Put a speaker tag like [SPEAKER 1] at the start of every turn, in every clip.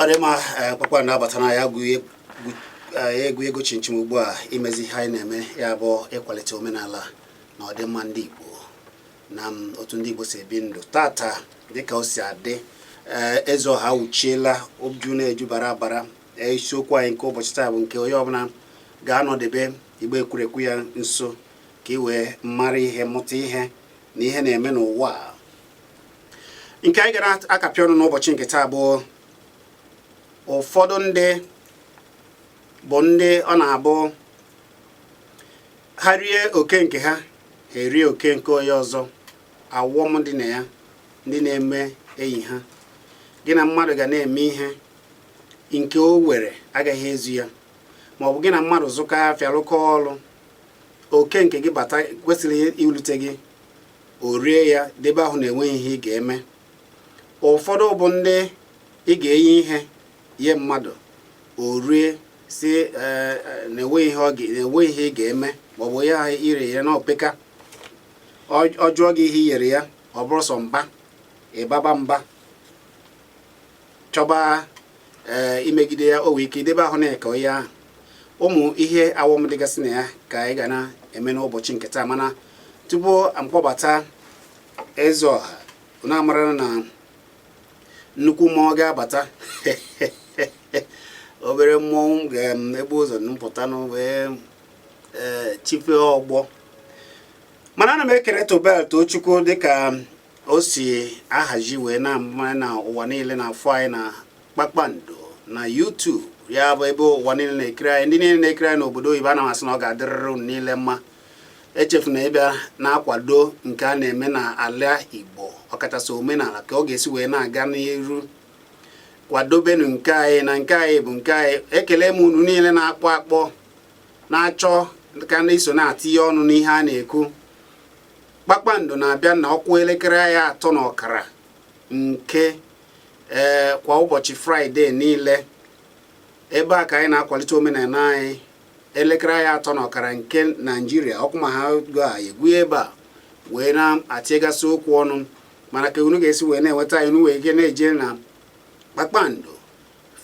[SPEAKER 1] ọ dị mma eh, kpakpando abatana ya gụọ eh, egwu ego chinchin ugbu a imezi ihe anyị na-eme ya bụ ịkwalite omenala na ọdịmma ndị Igbo na mm, otu ndị Igbo si ebi ndụ tata dịka o si adị eh, eze ọha awụchiela oju na-eju bara abara isiokwu anyị nke ụbọchị taa bụ nke onye ọbụla ga-anọdebe igbe ekwurekwu ya nso ka ị wee mara ihe mụta ihe na ihe na-eme n'ụwa nke anyị gara akapị ọnụ n'ụbọchị nke taa bụ ụfọdụ ndị bụ ndị ọ na-abụ ha rie oke nke ha ha erie oke nke onye ọzọ awọm dị na ya ndị na-eme enyi ha gị na mmadụ ga na-eme ihe nke o were agaghị ezu ya ma ọ bụ gị na mmadụ zụkọ afịa rụkọ ọrụ oke nke gị bata kwesịrị irute gị o rie ya debe ahụ na-enweghị ihe ị ga-eme ụfọdụ bụ ndị ị ga-enye ihe nye mmadụ o rie sị eh, eh, na-enweghị ihe ị ga-eme maọbụ ya ire ya na opeka ọ jụọ gị ihe i nyere ya ọ bụrụ sọ mba ịbaba mba chọba ee eh, imegide ya o nwee ike idebe ahụ na-eke onye ahụ ụmụ ihe awọm dịgasị na ya ka anyị ga na-eme n'ụbọchị nke taa mana tupu m kpọbata eze ọha na-amara na nnukwu mmụọ ga-abata obere mmụọ ga-ebu ụzọ mpụta na wee eh, chife ọgbọ mana ana m ekele tobel tochukwu dịka o si ahazi wee na-ama na ụwa niile na-afụ anyị na kpakpando na YouTube ya bụ ebe ụwa niile na-ekiri anyị ndị niile na-ekiri anyị n'obodo oyibo ana m asị na ọ ga-adịrịrị unu niile mma echefuna ịbịa na-akwado nke a na-eme na ala Igbo ọkachasị omenala ka ọ ga-esi wee na-aga n'iru kwadobenu nke anyị na nke anyị bụ nke anyị ekele m unu niile na-akpọ akpọ na-achọ ka na-eso na-atịnye ọnụ n'ihe a na-ekwu kpakpando na-abịa na ọ kụọ elekere ya atọ na ọkara nke ee kwa ụbọchị fraịde niile ebe a ka anyị na-akwalite omenala anyị elekere ya atọ na ọkara nke naijiria ọ kụọ ma ha ga egwu ebe a wee na-atịgasị okwu ọnụ mana ka unu ga-esi wee na-enweta anyị unu nwee ike na-eje na kpakpando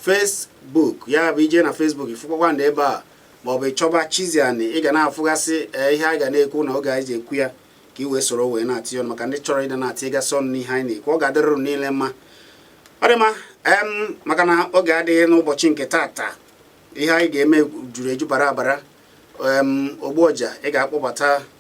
[SPEAKER 1] Facebook ya bụ i je na Facebook ị fụ kpakpando ebe a maọbụ ị chọba Chiziani ị ga na-afụgasị eh, ihe a ga na-ekwu na oge anyị ji ekwu ya ka ị wee soro wee na-atị ọnụ maka ndị chọrọ ịdị na-atịgasị ọnụ n'ihe anyị na-ekwu ọ ga-adịrịrị unu niile mma ọ dị mma em maka na oge adịghị n'ụbọchị nke taata ihe anyị ga-eme juru eju bara abara ogbu ọja ị ga-akpọbata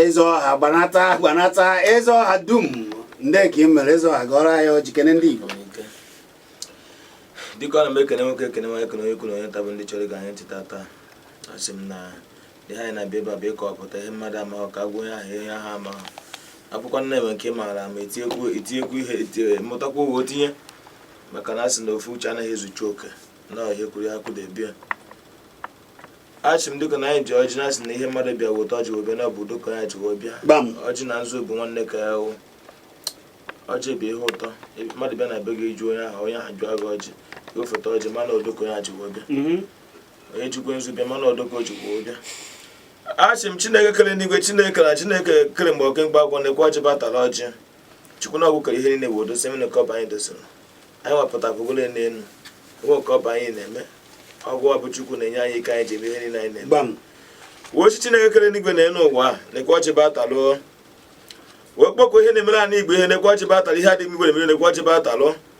[SPEAKER 1] eze ọha gbanata gbanata eze ọha dum ndee ka i mere eze ọha gọọrọ anyị ọjị kene ndị
[SPEAKER 2] Igbo dịka ọ na m ekene nwoke ekene nwaanyị ekene onye ukwu onye nta bụ ndị chọrọ ige anyị ntị tata asị m na ihe anyị na-abịa ebe a bụ ịkọwapụta ihe mmadụ amaghị ka a gwa onye ahụ ihe ahụ amaghị ọ bụkwanụ na e nwee nke maara ma etinyekwu etinyekwu ihe mụtakwa wee tinye maka na a sị na ofu uche anaghị ezucha oke na ihe kwụrụ ihe akwụdebe ya asị m dịka na anyị ji ọjị na-asị na ihe mmadụ bịa weta ọjị webe na ọ bụ udo ka ya ji wee bịa ọjị na nzu bụ nwanne ka ha bụ ọjị bụ ihe ụtọ mmadụ bịa na be gị ju onye ahụ onye ahụ jụọ gị ọjị gofeta ọjị ma na udo ka ya ji wee bịa mhm. onye jikwa nzu bịa ma na udo ka o jikwa wee bịa asị m chineke kere n'igwe chineke na chineke kere mgbe oke mkpa agwọ nekwe ọjị bịa tara ọjị chukwu na ọgwụ kere ihe niile bụ odo semina ka ọba anyị dosoro anyị wepụta bụgolo n'elu enwe ka ọba anyị na-eme ọgwụ ọ bụ chukwu na-enye anyị ike anyị ji eme ihe niile anyị na-eme wee sị chineke kere n'igwe na elu ụwa nekwe ọjị bịa talụ wee kpọkọ ihe na-emere anị igbo ihe nekwe ọjị bịa talụ ihe anị igbo na-emere nekwe ọjị bịa talụ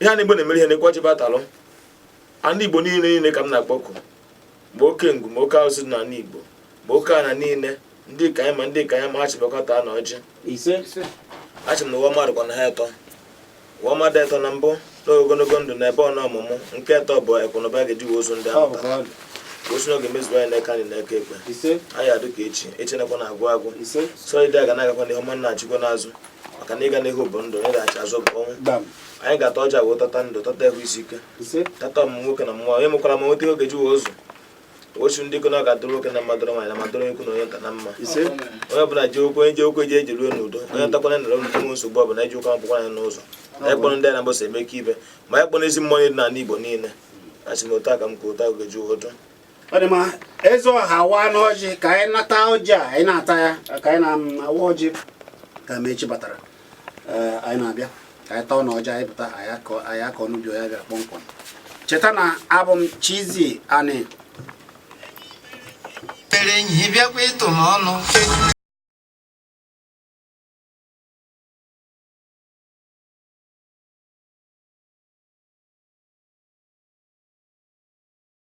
[SPEAKER 2] ihe anị igbo na-emere ihe nekwe ọjị bịa talụ anị igbo niile niile ka m na-akpọku ma oke ngwu ma oke arụsị dị n'anị igbo ma oke ana niile ndị ka anyị ma ndị ka anyị ma ha sị bịa taa na ọjị ise asị m na ụwa mmadụ kwa na ha etọ ụwa mmadụ etọ na mbụ na ogologo ndụ na ebọ na ọmụmụ nke etọ bụ ekụ na ụba ga-eji wee zụọ ndị ahụ taa osi n'oge mezuo anyị n'aka nri n'aka ekpe anyị adụ ka echi echi anakwana agwụ agwụ sị ije a ga na-agakwa n'ihu ọ ma na-adachikwa n'azụ maka na ịga n'ihu bụ ndụ ịdachi azụ bụ ọnwụ anyị ga-ata ọjị a wee tata ndụ tata ehụ isi ike tata ọmụmụ nwoke na ọmụmụ nwaanyị mụkwara ma nweta ego e ji wee zụọ osu ndị ikona ga-adụrụ nwoke na mma dụrụ nwaanyị na mma dụrụ onye ukwu na onye nta na mma onye ọbụla ji okwu onye ji ụkwụ eje ejeruo n'udo onye natakwanụ naruo n'udo enweghị nsogbu ọbụla eji ụka akwụkwọ anyị n'ụzọ na ịkpọrọ ndị anabọsa emeka ibe ma ịkpọrọ ezi mmụọ niile n'ala igbo niile asị m otu aka m ka otu ahụ ga-eji adụ ọ dị
[SPEAKER 1] mma eze ọha waanụ ọjị ka anyị na-ata ọjị a anyị na-ata ya ka anyị na-awa ọjị ka Amechi batara eh, anyị na-abịa ka anyị taanụ ọjị anyị pụta anyị akọọ unu ihe anyị bịara kpọmkwem cheta na abụ m Chizzy Ani
[SPEAKER 3] tere enyi bịakwa ịtụ m ọnụ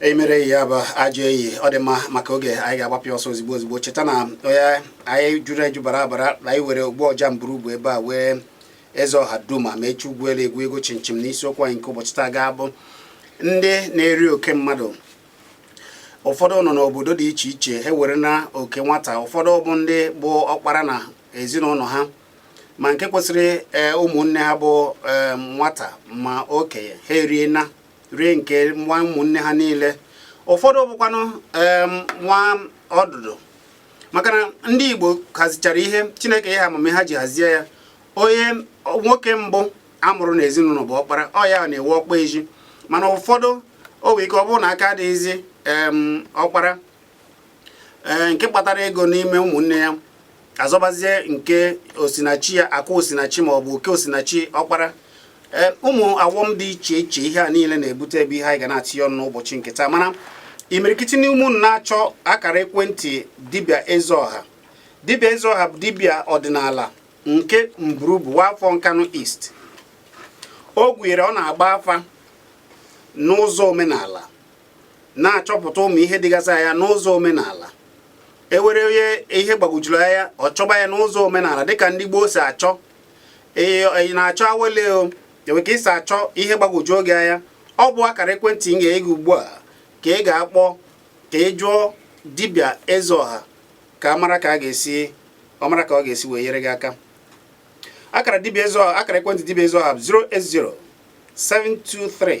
[SPEAKER 1] eyi mere eyi bụ ajọ eyi ọ dị mma maka oge anyị ga-agbapịa ọsọ ozigbo ozigbo cheta na ọnụ anyị juru eju bara abara na anyị nwere ogbu ọja Mburubu ebe a nwee eze ọha dum ma echi ugwu elu egwu ego chinchin na isiokwu anyị nke ụbọchị taa ga-abụ ndị na-eri oke mmadụ ụfọdụ nọ n'obodo dị iche iche ha were na oke nwata ụfọdụ bụ ndị bụ ọkpara na ezinụlọ ha ma nke kwesịrị e, ụmụnne ha bụ e, nwata ma okenye ha erie na rie nke nwa ụmụnne ha niile ụfọdụ bụkwanụ e, nwa ọdụdụ maka na ndị Igbo hazichara ihe Chineke nye ha amamihe ha ji hazie ya onye nwoke mbụ amụrụ n'ezinụlọ bụ ọkpara ọ ya na-ewe ọkpa ezi mana ụfọdụ o nwere ike ọ bụrụ na aka adịghịzi ọkpara ee nke kpatara ego n'ime ụmụnne ya azọbazie nke osinachi ya akụ osinachi ma ọ bụ oke osinachi ọkpara ee ụmụ ọghọm dị iche iche ihe a niile na-ebute ebe ihe anyị ga na-atịnye ọnụ n'ụbọchị nke taa mana imirikiti n'ime unu na-achọ akara ekwentị dibịa eze ọha dibịa eze ọha bụ dibịa ọdịnala nke Mburubu nwa afọ Nkanụ East o gwere ọ na-agba afa n'ụzọ omenala na-achọpụta ụmụ ihe dịgasị anya n'ụzọ omenala enwere onye ihe gbagwojuru anya ọ chọba ya n'ụzọ omenala dịka ndị gboo si achọ ị na-achọ awele o enwe ka ị si achọ ihe gbagwojuru gị anya ọ bụ akara ekwentị m ga-enye gị ugbu a ka ị ga-akpọ ka ị jụọ dibịa eze ọha ka mara ọ mara ka ọ ga-esi wee nyere gị aka akara dibịa eze ọha akara ekwentị dibịa eze ọha 080 723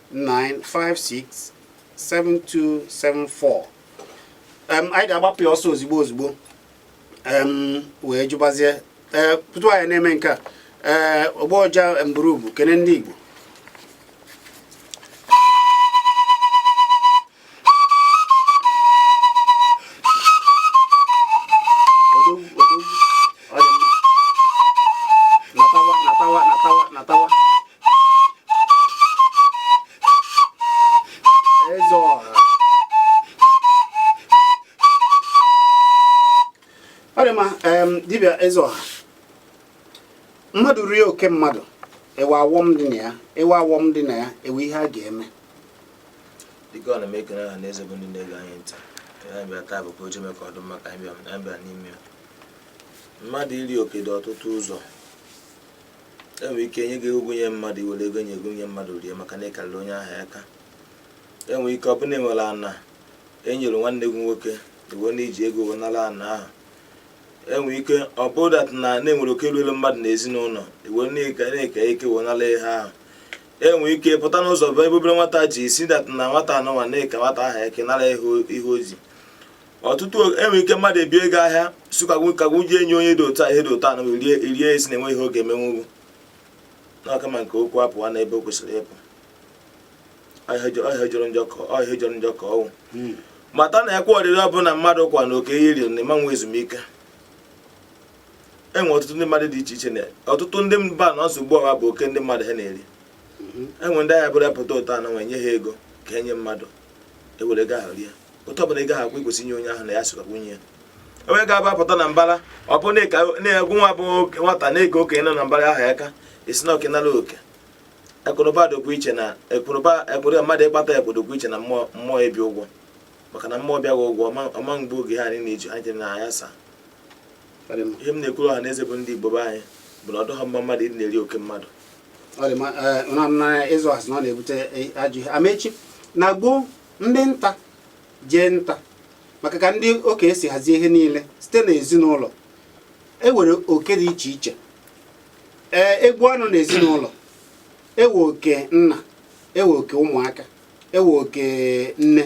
[SPEAKER 1] 9567274 em anyị ga-agbapụ ya ọsọ ozigbo ozigbo em wee jụbazie ee tutu anyị na-eme nke a ee ogbu ọja Mburubu kene ndị Igbo dibịa eze ọha mmadụ rie oke mmadụ enwe ọghọm dị na ya enwe ihe a ga-eme
[SPEAKER 2] dịka ọ na m ekele ọha na eze bụ ndị na-ege anyị ntị anyị bịa taa bụ ka o jeme ka ọ dị mma ka anyị bịa anyị bịa n'ime ya mmadụ iri oke dị ọtụtụ ụzọ enwere ike nye gị ego gụ nye mmadụ i were ego nye gụ nye mmadụ rie maka na ị karịrị onye ahụ aka enwere ike ọ bụ na enwere ana enyere nwanne gị nwoke i we na i ji ego wee nara ana ahụ enwere ike ọ bụ that na enwere oke ruelu mmadụ na ezinụlọ i we na ị ka ike wee nara ihe ahụ enwe ike pụta n'ụzọ bụ ebe obere nwata ji si that na nwata anụnwa na-eke nwata ahụ ike nara ihe o ji ọtụtụ enwe ike mmadụ ebie ego ahịa si ka gụ ji enye onye dị otu a ihe dị otu a na rie erie esi na enwe ihe ọ ga-emenwu gụ n'ọka ma nke okwu apụwa na ebe o kwesịrị ịpụ ọ ihe jọrọ njọ ka ọnwụ hmm. mata na ekwa arịrị ọbụla mmadụ kwa na oke i riri na ị ma nwe ezumike e nwere ọtụtụ ndị mmadụ dị iche iche na ọtụtụ ndị mba na nsogbu ha bụ oke ndị mmadụ ha na-eri mhm. e nwere ndị ahịa burupụta ụtọ anọ nwe nye ha ego ka enye mmadụ ewere ego ahụ rie otu ọbụla ego ahụ akwụ ikwesị inye onye ahụ na ya sịkwa nwunye ya onye ga-abapụta na mbara ọ bụ n'egwu ọnwa bụ nwata na-ege okenye nọ na mbara ahụ ya ka esi na okenala oke akụnụba dịkwa iche na akụnụba akụrụ mmadụ ịkpata ya kpodokwa iche na mmụọ mmụọ ebi ụgwọ maka na mmụọ bịaghị ụgwọ ọma mgbe oge ha anyị na-eji anyị na ya saa ihe m na-ekwuru ọha na eze bụ ndị Igbo be anyị bụ na ọ dịghị mma mmadụ ịdị na-eri oke mmadụ ịzụ
[SPEAKER 1] asị na ọ na-ebute ajọ ihe amechi na gboo ndị nta jee nta maka ka ndị okenye si hazie ihe niile site n'ezinụlọ e nwere oke dị iche iche ee egbu anụ na ezinụlọ ewe oke nna ewe oke ụmụaka ewe oke nne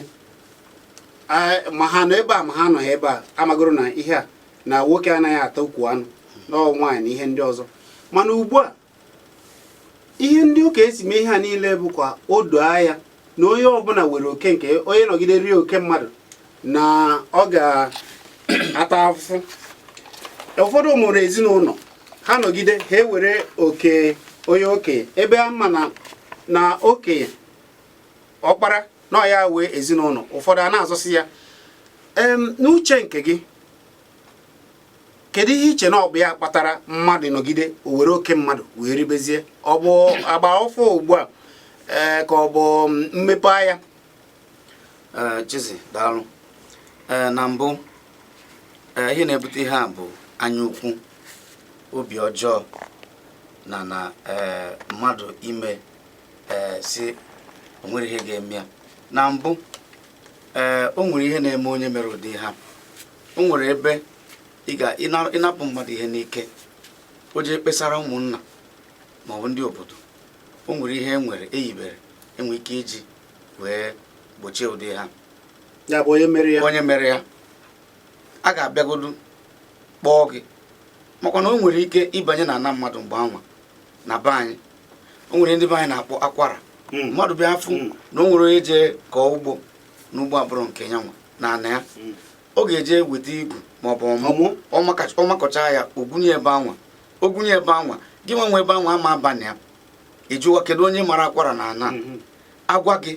[SPEAKER 1] ma ha nọ ebe a ma ha anọghị ebe a amagoro na ihe a na nwoke anaghị ata ukwu anụ na ọ bụ nwaanyị na ihe ndị ọzọ mana ugbu a ihe ndị okenye si mee ihe a niile bụ ka o doo anya na onye ọbụla nwere oke nke onye nọgide rie oke mmadụ na ọ ga-ata afụfụ ụfọdụ mụrụ ezinụlọ ha nọgide ha ewere oke onye okenye ebe a ma na okenye ọkpara na ọ ya nwe ezinụlọ ụfọdụ a na-azọsi ya n'uche nke gị kedu ihe i che na ọ bụ ya kpatara mmadụ nọgide o were oke mmadụ wee ribezie ọ bụ agba ọfụụ ugbu a ee ka ọ bụ mmepe
[SPEAKER 3] anya Chizzy daalụ na mbụ ihe na-ebute ihe a bụ anya ukwu obi ọjọọ na na mmadụ ime ee sị o nwere ihe ga-eme ya na mbụ ee o nwere ihe na-eme onye mere ụdị ihe a o nwere ebe ị ga ịna- ịnapụ mmadụ ihe n'ike o jee kpesara ụmụnna ma ọ bụ ndị obodo o nwere ihe e nwere eyibere enwere ike iji wee gbochie ụdị ihe a ya bụ
[SPEAKER 1] onye mere ya onye mere ya a
[SPEAKER 3] ga-abịagodu kpọọ gị makwa na o nwere ike ịbanye na ana mmadụ mgbe anwa na be anyị o nwere ndị be anyị na-akpọ akwara hmm. mmadụ bịa afụ hmm. na o nwere onye jee kọọ ugbo n'ugbo abụrọ nke ya nwa na ana ya hmm. ọ ga-eje weta igu maọbụ ọmụ ọ makọcha ya o gwunye ebe anwa o gwunye ebe anwa gị nwa nwe ebe anwa ama aba na ya ị jụwa kedu onye mara akwara na ana agwa gị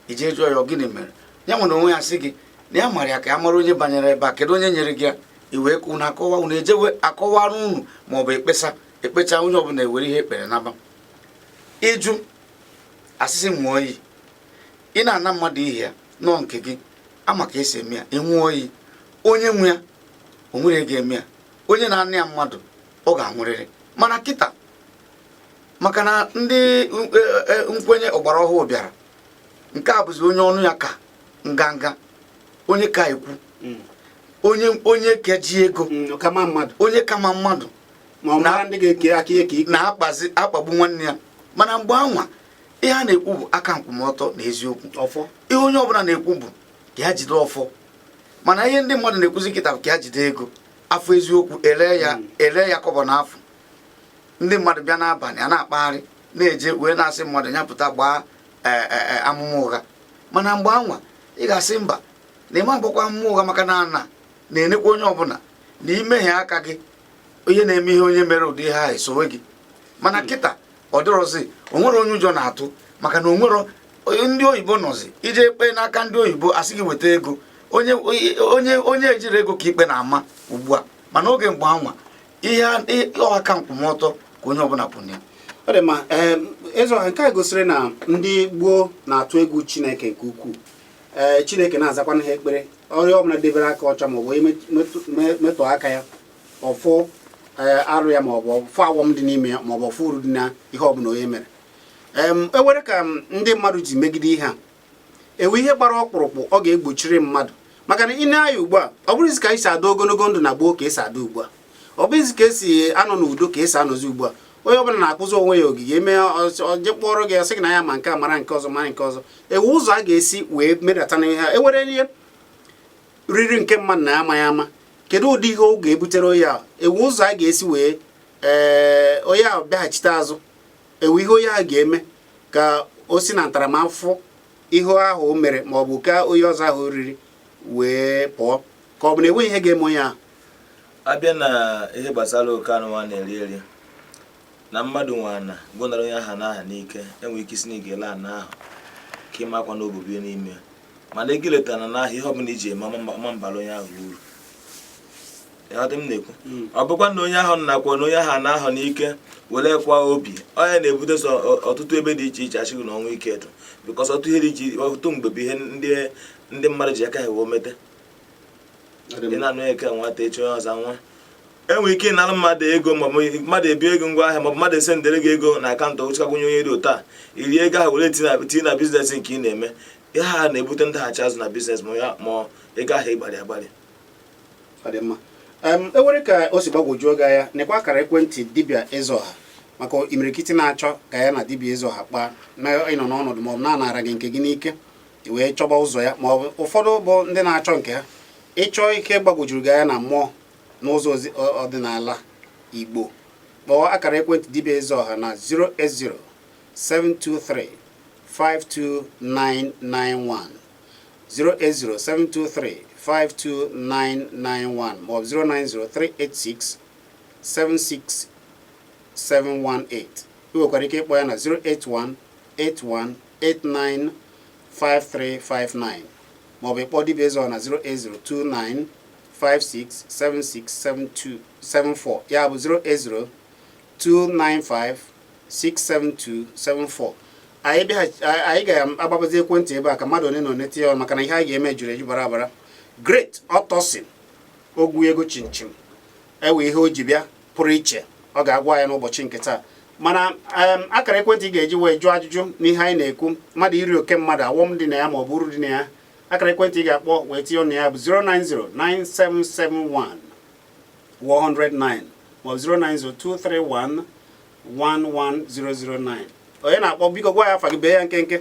[SPEAKER 3] i jee jụọ ya gịnị mere ya nwa onwe ya sị gị na ya mara ya ka ya mara onye banyere ebe a kedu onye nyere gị ya i wee kwụ na akọwa unu ejewe akọwara unu maọbụ ekpesa ekpecha onye ọbụla ewere ihe ekpere naba ị jụ asị sị ṅụọ iyi ị na-ana mmadụ ihe ya nọọ nke gị ama ka esi eme ya ị ṅụọ iyi onye nwe ya o nwere ga-eme ya onye na-ana ya mmadụ ọ ga-anwụrịrị mana kịta maka na ndị e, e, nkwenye ọgbara ọhụụ bịara nke a bụzi onye ọnụ ya ka nganga onye ka ekwu mm. onye onye ka eji ego mm, onye ka ama mmadụ na-akpagbu nwanne ya mana mgbe anwa ihe a na-ekwu bụ aka nkwụmọtọ na eziokwu ihe onye ọbụla na-ekwu bụ ka ya jide ọfọ mana ihe ndị mmadụ na-ekwuzi kịta bụ ka ya jide ego afụ eziokwu ere ya hmm. ere ya kọbọ na afụ ndị mmadụ bịa n'abalị a na-akpagharị na-eje wee na-asị mmadụ ya pụta gbaa e, e, e, amụma ụgha mana mgbe anwa ị ga-asị mba na ịma agbakwa amụma ụgha maka na ana na-enekwa onye ọbụla na imehie aka gị ihe na-eme ihe onye mere ụdị ihe ahụ esowe gị mana hmm. kịta ọ dịrọzi onwerọ onye ụjọ na-atụ maka na onwere ndị oyibo nọzi ije ikpe n'aka ndị oyibo asị gị weta ego onye onye onye ejirọ ego ka ikpe na-ama ugbu a mana oge mgbe anwa ihe aka nkwụmọtọ ka onye ọbụla kwụ na ya ọ dị mma
[SPEAKER 1] ịzụ nke a gosiri na ndị gboo na-atụ egwu chineke nke ukwuu ee eh, chineke na-azakwanụ ha ekpere onye ọbụla debere aka ọcha maọbụ onye metụ aka ya ọfụ eh, arụ ya maọbụ ọfụ ọghọm dị n'ime ya maọbụ ọfụ uru dị na ihe ọbụla onye mere enwere ka ndị mmadụ ji megide ihe a enwe ihe gbara ọkpụrụkpụ ọ ga-egbochiri mmadụ maka na i nee anya ugbu a ọ bụrọzi ka esi adị ogologo ndụ na gboo ka esi adị ugbu a ọ bụghịzi ka esi anọ n'udo ka esi anọzi ugbu a onye ọbụla na-akpụzi onwe ya ogige eme je kpọrọ gị ọsị gị na ya ma nke a mara nke ọzọ mara nke ọzọ enwe ụzọ a ga-esi wee medata na ihe ewere ihe riri nke mmadụ na amaghị ama kedu ụdị ihe ọ ga-ebutere onye ahụ enwe ụzọ a ga-esi wee ee eh, onye ahụ bịaghachite azụ enwe ihe onye ahụ ga-eme ka o si na ntaramahụhụ ihe ahụ o mere ma ọ bụ ka onye ọzọ ahụ riri wee pụọ ka ọ bụ na enweghị ihe ga-eme onye ahụ abịa
[SPEAKER 2] na ihe gbasara oke ana nwa na-eri eri na mmadụ nwe ana gị nara onye ahụ ana ahụ n'ike enwere ike ịsị na ị ga-ele ana ahụ ka ịmakwa na obibi n'ime mana ego ileta na ana ahụ ihe ọbụla iji eme ọma abara onye ahụ uru ịghọta m na-ekwu hmm. ọ bụkwa na onye ahụ nakwanụ onye ahụ ana ahụ n'ike were kwa obi onye na-ebute sọ ọtụtụ ebe dị iche iche asị na ọnwụ ike eto bikọs ọtụtụ ihe dị iche ọtụtụ mgbe bụ ihe ndị mmadụ ji aka ha wee mete ị na-anụ eke nwata echi onye ọzọ nwa enwere ike ịnara mmadụ ego maọbụ mmadụ ebi ego ngwa ahịa maọbụ mmadụ esendere gị ego na akaụntụ ochikakwunye onye dị ụta iri ego ahụ were tinye na biznes nke ị na-eme ihe ha na-ebute ndaghachi azụ na biznes ma ego ahụ ịgbarị
[SPEAKER 1] agbarị enwere ka o si gbagwojuo gị anya nekwa akara ekwentị dibịa Ezeọha maka imirikiti na-achọ ka ya na dibịa Ezeọha kpaa na ị nọ n'ọnọdụ maọbụ na a nara gị nke gị n'ike i wee chọba ụzọ ya ma ọ bụ ụfọdụ bụ ndị na-achọ nke ha ị chọ ike gbagwojuru gị anya na mmụọ n'ụzọ ọdịnala Igbo kpọọ akara ekwentị dibịa Ezeọha na 080 723 52991 08072352991 maọbụ 09038676718 ị nwekwara ike ịkpọ ya na 08181 895359 maọbụ ịkpọ dibịa Ezeọha na 0802956767274 ya bụ 08029567274 anyị ga-agbapezi ekwentị ebe a ka mmadụ one na one tinye ọnụ maka na ihe anyị ga-eme juru eju bara abara Great Ọtọsin ogwu ego chinchin nwere ihe o ji bịa pụrụ iche ọ ga-agwa anyị n'ụbọchị nke taa mana akara ekwentị ị ga-eji wee jụọ ajụjụ n'ihe anyị na-ekwu mmadụ iri oke mmadụ awọm dị na ya ma ọ bụ uru dị na ya akara ekwentị ị ga-akpọ wee tinye ọnụ ya bụ 0909771 109 ma ọ bụ 09023111009 onye na-akpọ biko gwa anyị afa gị bee ya nkenke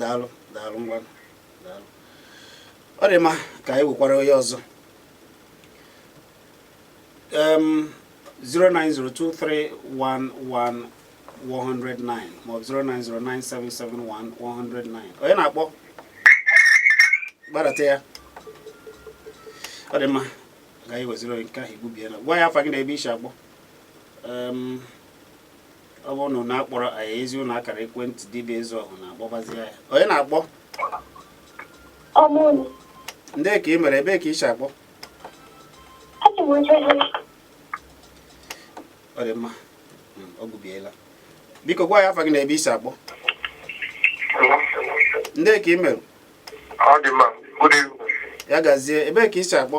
[SPEAKER 1] daalụ daalụ ngwa daalụ ọ dị mma ka anyị wekwara onye ọzọ 0902311 109 maọbụ 0909771 onye na-akpọ gbadata ya ọ dị mma ka anyị weziri onye nke ahụ egbubiela gwa anyị afa gị na ebe i si akpọ ọ bụrụ na unu akpọrọ anyị ezi unu akara ekwentị dibịa Ezeọha unu akpọbazi ya onye na-akpọ ndee ka ị mere ebee ka ị si akpọ ọ dị mma hmm, o gbubiela biko gwa anyị afa gị na ebe i si akpọ ndee ka ị mere ya gazie ebee ka i si akpọ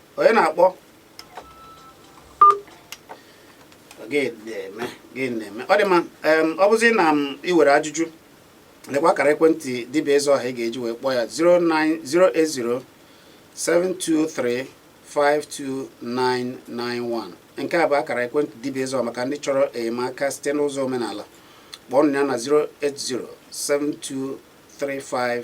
[SPEAKER 1] onye na-akpọ gịnị na-eme ọ dị mma ọ bụzi na i were ajụjụ lekwa akara ekwentị dibịa eze ọha ị ga-eji wee kpọọ ya 08072352991 nke a bụ akara ekwentị dibịa eze ọha maka ndị chọrọ enyemaka site n'ụzọ omenala kpọọ ya na 0807235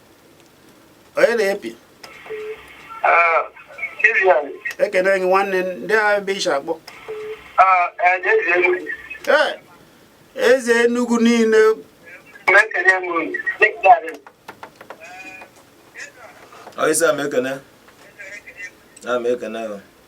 [SPEAKER 1] onye na-epi ah, ekene gị nwanne ndịa ebe i shi akpọ ah, eh, eze Enugu
[SPEAKER 2] niile ọyịsa m ekene na m ekene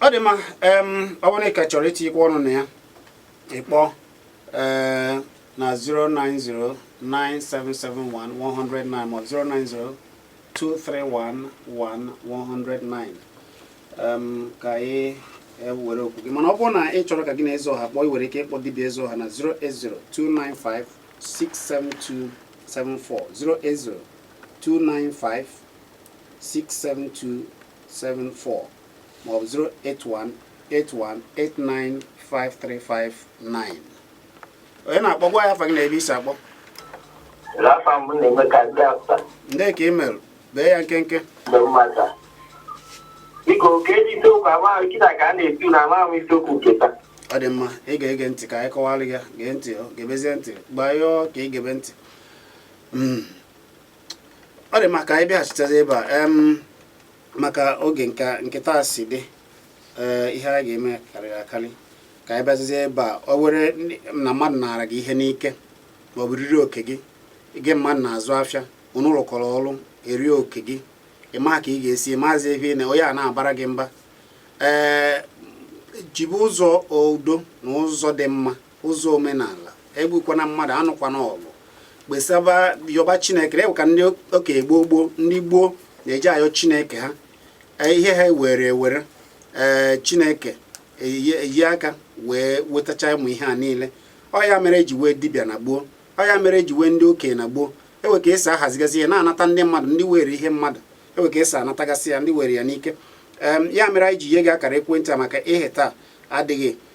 [SPEAKER 1] ọ dị mma ọ bụrụ na ị ka chọrọ itinyekwa ọnụ na ya ị kpọọ eh, na 09097711109 ma 09023111109 ka anyị were okwu gị mana ọ bụrụ na ị chọrọ ka gị na eze ọha kpọọ ị nwere ike ịkpọ dibịa eze ọha na 08029567274 08029567274 maọbụ 08181895359 onye na-akpọ gwa anyị afa gị na ebe i si akpọ Rafa m na-eme ka ndị afta ndị ka ị mere bee ya nkenke na mmata. Biko ka eji isiokwu amaghị kịta ka a na-etu na amaghị m isiokwu nke taa. ọ dị mma ị ga-ege ntị ka anyị kọwara gị ya gee ntị ọ gebezie ntị gbanyụọ ka ị gebe ntị Mm. ọ dị mma ka anyị bịaghachitazi ebe a em maka oge nke kịta si dị eh, ihe a ga-eme karịrị akarị ka anyị bịazizie ebe a ọ were na mmadụ naara gị ihe n'ike ma ọ bụ riri oke gị gị mmadụ na-azụ afịa unu rụkọrọ ọrụ e rie oke gị ị ma ka ị ga-esi maazị ebe na onye a na-abara gị mba ee eh, jibe ụzọ udo na ụzọ dị mma ụzọ omenala egbukwana mmadụ anụkwana ọgụ kpesaba yọba chineke ewe ka ndị okenye gboo gboo ndị gboo na-eji ayọ chineke ha e, ihe ha were ewere ee chineke eye aka wee wetacha ụmụ ihe a niile ọ ya mere eji wee dibịa na gboo ọ ya mere eji wee ndị okenye na gboo ewe ka esi ahazigasị ihe na-anata ndị mmadụ ndị were ihe mmadụ ewe ka esi anatagasị ya ndị were ya n'ike ya mere anyị ji nye gị akara ekwentị a maka ihe taa adịghị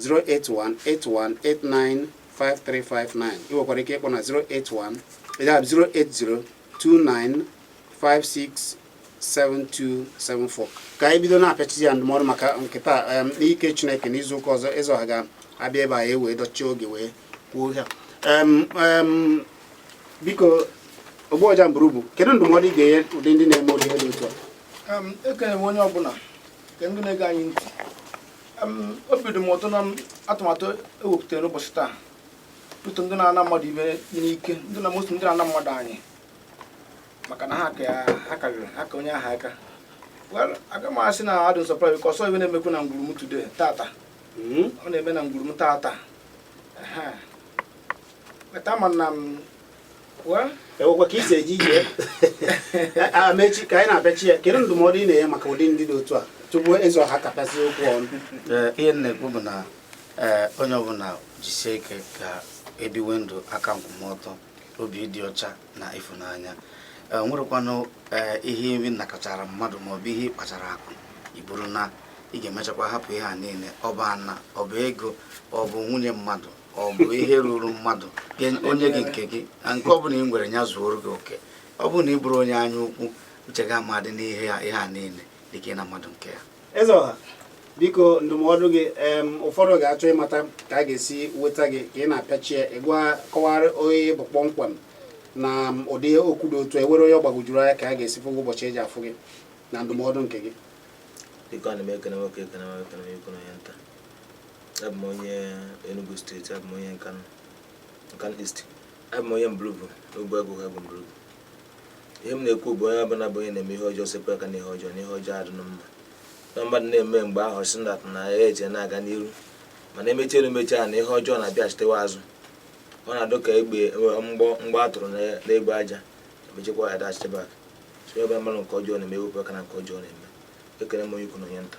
[SPEAKER 1] 08181895359 ị nwekwara ike ịkpọ na 081 ya bụ 08029567274 ka anyị bido na-apịachizi ya ndụmọdụ maka nke taa em, n'ike Chineke n'izu ụka ọzọ eze ọha ga-abịa ebe a ya wee dọchie oge wee kwuo ya Em, em, biko Ogbuọja Mburubu kedu ndụmọdụ ị ga-enye ụdị ndị na-eme ụdị ihe dị otu a Em, ekele m onye
[SPEAKER 4] ọbụla nke ndị na-ege anyị ntị obi dị m ụtọ na atụmatụ ewepụtara n'ụbọchị taa ụdị ndị na-ana mmadụ ihe n'ike ndị na mosi ndị na-ana mmadụ anị maka na ha karịrị ha ka onye aha aka well aga m asị na adị nsọpụrụ biko o so ihe na-emekwu na ngwuru m today tata hmm? ọ na-eme na ngwuru m tata kpeta ma na
[SPEAKER 1] enwekwa ka isi eji ije amechi ka anyị na-apịachi ya kedu ndụmọdụ ị na-enye maka ụdị ndị dị otu a tupu eze ọha kapịasị okwu ọnụ ihe m na-ekwu
[SPEAKER 3] bụ na onye ọbụla jisie ike ka ebiwe ndụ aka nkwụmọtọ obi dị ọcha na ịfụnanya nwerekwanụ ihe ị nakọchara mmadụ maọbụ ihe ị kpachara akụ iburu na ị ga-emechakwa hapụ ihe a niile ọ bụ ana ọ bụ ego ọ bụ nwunye mmadụ ọ bụ ihe ruru mmadụ o nye gị nke gị na nke ọ bụla ị nwere ya zuoro gị oke ọ bụrụ na ị bụrụ onye anya ukwu uche gị amadị n'ihe ya ihe a niile dịka ịna mmadụ nke ya eze ọha
[SPEAKER 1] biko ndụmọdụ gị ụfọdụ ga-achọ ịmata ka a ga-esi weta gị ka ị na-apịachie ịgwa kọwara onye ị bụ kpọmkwem na ụdị okwu dị otu a e nwere onye ọ gbagwojuru anya ka a ga-esi fụ ụbọchị eji afụ gị na ndụmọdụ nke gị
[SPEAKER 2] abụ m onye Enugu steeti abụ m onye Nkanu Nkanu East abụ m onye Mburubu n'ogbe agụ ha bụ Mburubu ihe m na-ekwu bụ onye ọbụla bụ onye na-eme ihe ọjọọ sepụ aka n'ihe ọjọọ na ihe ọjọọ adịnụ mma na mmadụ na-eme mgbe ahụ si na na ya eje na-aga n'iru mana emechi elu mechi ana ihe ọjọọ na-abịachitewa azụ ọ na-adụ ka egbe mgbọ mgbọ a tụrụ n'egbe aja emechekwa ya dachite back so onye ọbụla mmadụ nke ọjọọ na-eme ewepụ aka na nke ọjọọ na-eme ekele m onye ukwu na onye nta